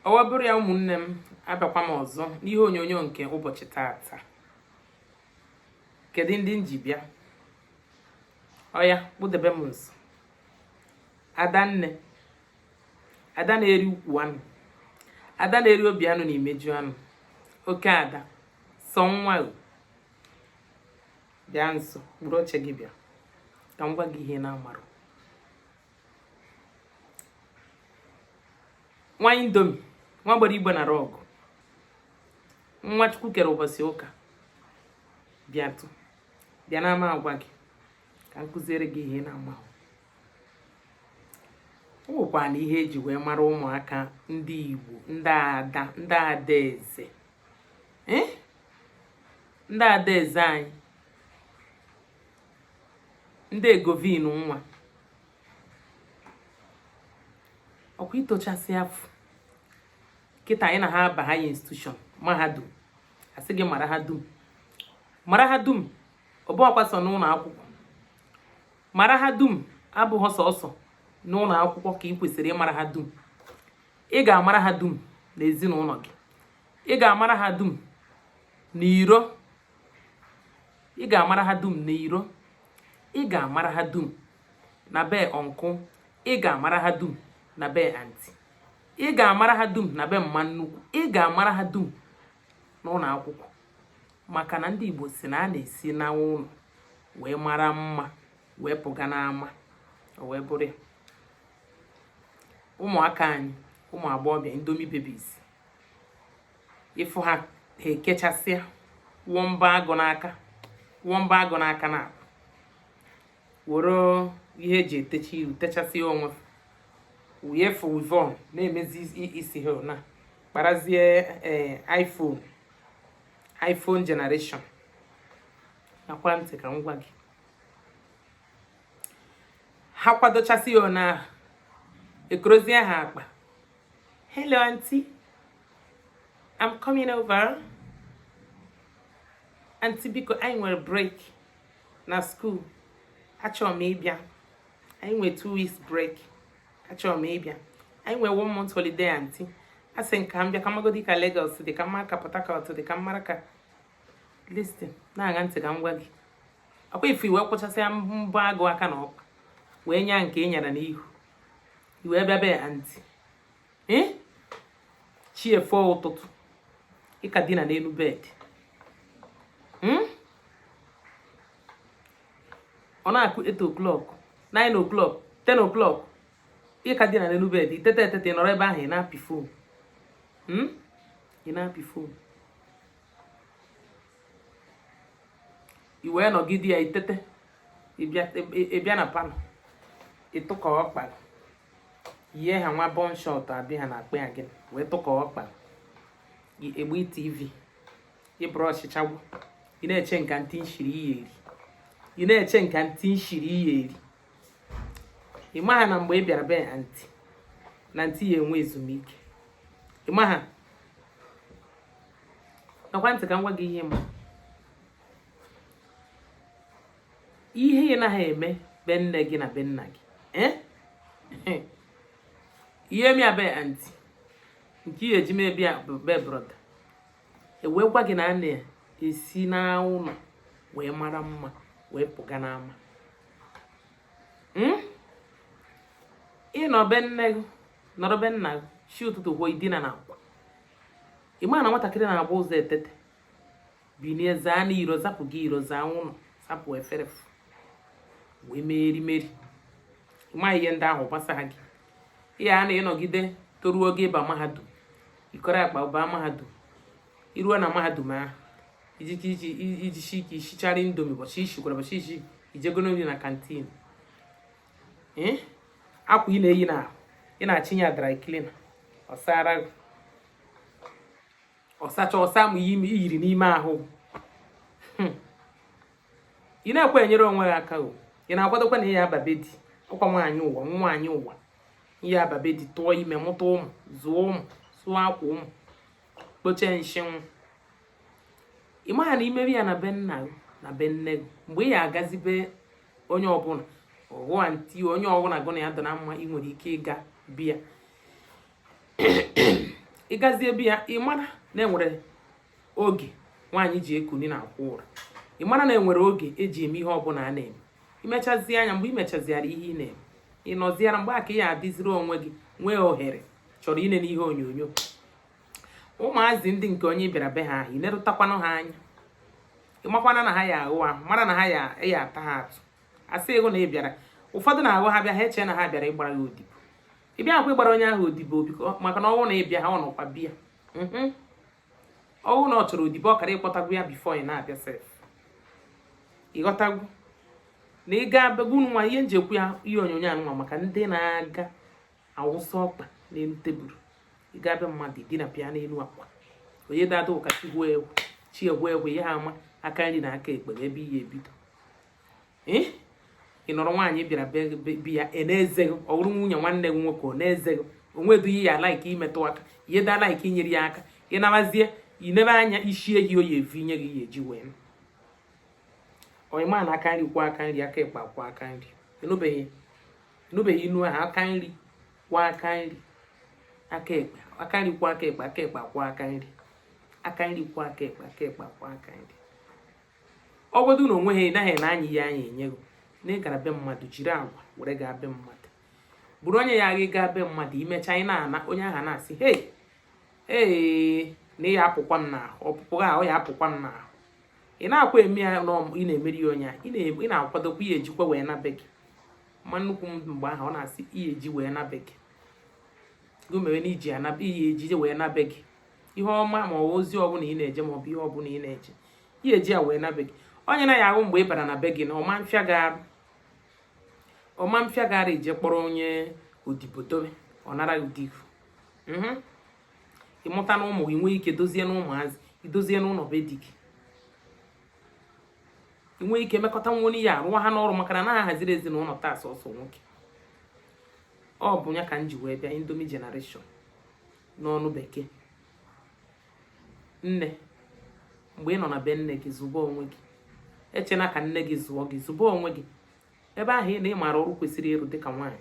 o wee bụrụ ya ụmụnne m abịakwa m ọzọ n'ihe onyonyo nke ụbọchị tata kedu ndị m ji bịa ọya kpudebe m nso adanne ada na-eri ukwu anụ ada na-eri obi anụ na imeju anụ oke ada sọ nwa bịa nso kpụrụ oche gị bịa ka m gwa gị ihe na-amarụ nwa indomie nwa gbara igbe na rug nwa chukwu kere ụbọchị ụka bịatụ bịa na m ga-agwa gị ka m kuziere gị ihe ị na-amahụ ọ bụkwanụ ihe eji wee mara ụmụaka ndị igbo ndị ada ndị adaeze eh? ndị adaeze anyị ndị egovin nwa ọkwa i tochasị afọ kịta anyị na ha aba higher institution mahadum a sị gị mara ha dum mara ha dum ọ bụhọkwa sọ n'ụlọ akwụkwọ mara ha dum abụghị sọsọ n'ụlọ akwụkwọ ka ị kwesịrị ịmara ha dum ị ga-amara ha dum n'ezinụlọ gị ị ga-amara ha dum n'iro ị ga-amara ha dum n'iro ị ga-amara ha dum na be uncle ị ga-amara ha dum na be aunty ị ga-amara ha dum na be mma nnukwu ị ga-amara ha dum n'ụlọ akwụkwọ maka na ndị Igbo sị na a na-esi na ụlọ wee mara mma wee pụga n'ama o wee bụrụ ya ụmụaka anyị ụmụ agbọghọbịa indomie babies ị fụ ha ha ekechasịa wụọ mbọ agụ n'aka wụọ mbọ agụ n'aka na were ihe eji etecha iru techasịa onwe wụnye fụ weavon na-emezi isi ha na kparazie eh, iphone iphone generation ṅakwa ntị ka m gwa gị ha kwadochasịa ọ na-ahụ ekorozie ha akpa hello aunty I'm coming over aunty biko anyị nwere break na school achọrọ m ịbịa anyị nwere two weeks break achọrọ m ịbịa anyị nwere one month holiday aunty a sị m ka m bịa ka m magodi ka Lagos dị ka m mara ka Port Harcourt dị ka m mara ka listen ṅaa ntị ka m gwa gị ọkwa ị fụ i wee kwụchasịa mbọ agụ aka na ọkpa wee nya nke ị nyara n'ihu i wee bịa be aunty ee chi efo ụtụtụ ịka dina n'elu bed hmm? ọ na-akụ 8 o'clock 9 o'clock 10 o'clock ịka dina n'elu bed itete etete nọrọ ebe ahụ ị na-apị phone hmm? ị na-apị phone i wee nọgide ya itete ịbịa na parlour ịtụkọ ọkpa ihe ha nwa bum short abi ha na-akpọ ya gị wee tụkọ ọkpa ị gbaa tv ịbụrụ ọchịchagwụ ị na-eche nke anti nshiri ị ya-eri ị na-eche nke anti nshiri ị ya-eri ị maha na mgbe ị bịara be anti na anti ya enwe ezumike ị maha ṅakwa ntị ka m gwa gị ihe ma ihe ị naghị eme be nne gị na be nna gị eh? ị ya-eme ya be anti nke ị ya-eji eme be brọda ewee gwa gị na a na-esi n'ụlọ wee mara mma wee pụga n'ama hmm? ịnọ be nne gị nọrọ be nna gị chi ụtụtụ gwuo idina na akwa ị ma na nwatakịrị na-ebu ụzọ etete binie zaa na iro zapụ gị iro zaa n'ụnọ sapụ efere wee mee erimeri ịma ihe ndị ahụ agbasaha gị ihe a ịnọgide toruo oge ịba mahadum ịkọrọ akpa baa mahadum iruo na mahadum ahụ ijichi ike isichara indomie ụbọchị ishikwara ụbọchị isi ijegoro nri na canteen akwa ị na-eyi n'ahụ ị na-achịye dry cleaner ọ sara ọsacha ọ saa ma iyiri n'ime ahụ hmm. ị na-ekwe enyere onwe gị aka o ị na-akwadokwa na ị ya-aba be di ọkwa nwaanyị ụwa nwaanyị ụwa ị ya-aba be di tụọ ime mụta ụmụ zụọ ụmụ sụọ akwa ụmụ kpochie nshị ụmụ ị maghị na imebe ya na be nna gị na be nne gị mgbe ị ya agazi be onye ọbụla ọ bụ anti onye ọbụla gị na ya adị na mma ị nwere ike ịga be ya ịgazie be ya ị mara na enwere oge nwaanyị ji ekuni na akwa ụra ị mara na enwere oge eji eme ihe ọbụla a na-eme imechazi ya mgbe imechaziara ihe ị na-eme ị nọziara mgbe aka ya adịziri onwe gị nwee ohere chọrọ inene ihe onyonyo ụmụazị ndị nke onye bịara be ha ahụ ị nerụtakwanụ ha anya ịmakwana na ha ya ahụ ahụ mara na ha ya ata ha atụ asị ego na ị bịara ụfọdụ na-ahụ ha bịa ha eche na ha bịara ịgbara ya odibo ị bịakwa ịgbara onye ahụ odibo maka na ọ wụ na ị bịa ha ọ nọkwa bịa mhm. ọ wụ na ọ chọrọ odibo ọ kara ịkpọtago ya before ị na-abịa sef ị ghọtago na ị ga-abịago nwa ihe m ji ekwu ya ihe onyonyo anụnwa maka ndị na-aga awụsa ọkpa n'elu tebụl ị gaa be mmadụ dina pịa n'elu akwa onye dada ụka chi egwu chi egwu egwu ihe ama aka nri na aka ekpe ebe ihe ebido eh? ị nọrọ nwaanyị bịara be ya ị na-eze ọ bụrụ nwunye nwanne gị nwoke ọ na-eze gị onwedughị ya like imetụ aka ihe daa like inyere ya aka ị nabazie inebe anya isi ehi oyi evi nye gị ya e ji wee ọyịma na aka nri kwụọ aka nri aka ịkpa kwụọ aka nri ị nụbeghị ị nụbeghị inu ahụ aka nri kwụọ aka nri aka ekpe aka nri kwụọ aka ekpe aka ekpe kwụọ aka nri aka nri kwụọ aka ekpe aka ekpe kwụọ aka nri ọ bụrụ na onwe ha ị naghị na anyị ya anyị enyego na ị gara be mmadụ jiri agwa were gaa be mmadụ bụrụ onye ya gị gaa be mmadụ i mecha ị na-ana onye ahụ na-asị hei ee na ya apụkwa m n'ahụ ọpụpụ ha ọ ya apụkwa m n'ahụ ị na-akwa eme ya ị na-emeri ya onye ị na-akwadokwa ihe e jikwa wee na be gị ma nnukwu m mgbe ahụ ọ na-asị ihe e ji wee na be gị gị mere na iji ihe ejije wee na be gị ihe ọma ma ọ bụ ozi ọbụla ị na-eje ma ọ bụ ihe ọbụla ị na-eje ya e ji ya wee na be gị onye na ya ahụ mgbe ị bara na be gị na ọma mfịa gara ọma mfịa gara ije kpọrọ onye odibo dobe ọ nara gị ụdị ifu mhm. ị mụta na ụmụ gị nwee ike dozie na ụmụazị idozie n'ụlọ be di gị ị nwee ike mekọta nwa onye ya arụwa ha n'ọrụ maka na ha haziri ezinụlọ taa sọsọ nwoke ọ bụ ya ka m ji wee bịa Indomie generation n'ọnụ bekee nne mgbe ị nọ na be nne gị zụba onwe gị echena ka nne gị zụọ gị zụba onwe gị ebe ahụ na ịmara ọrụ kwesịrị ịrụ dịka nwaanyị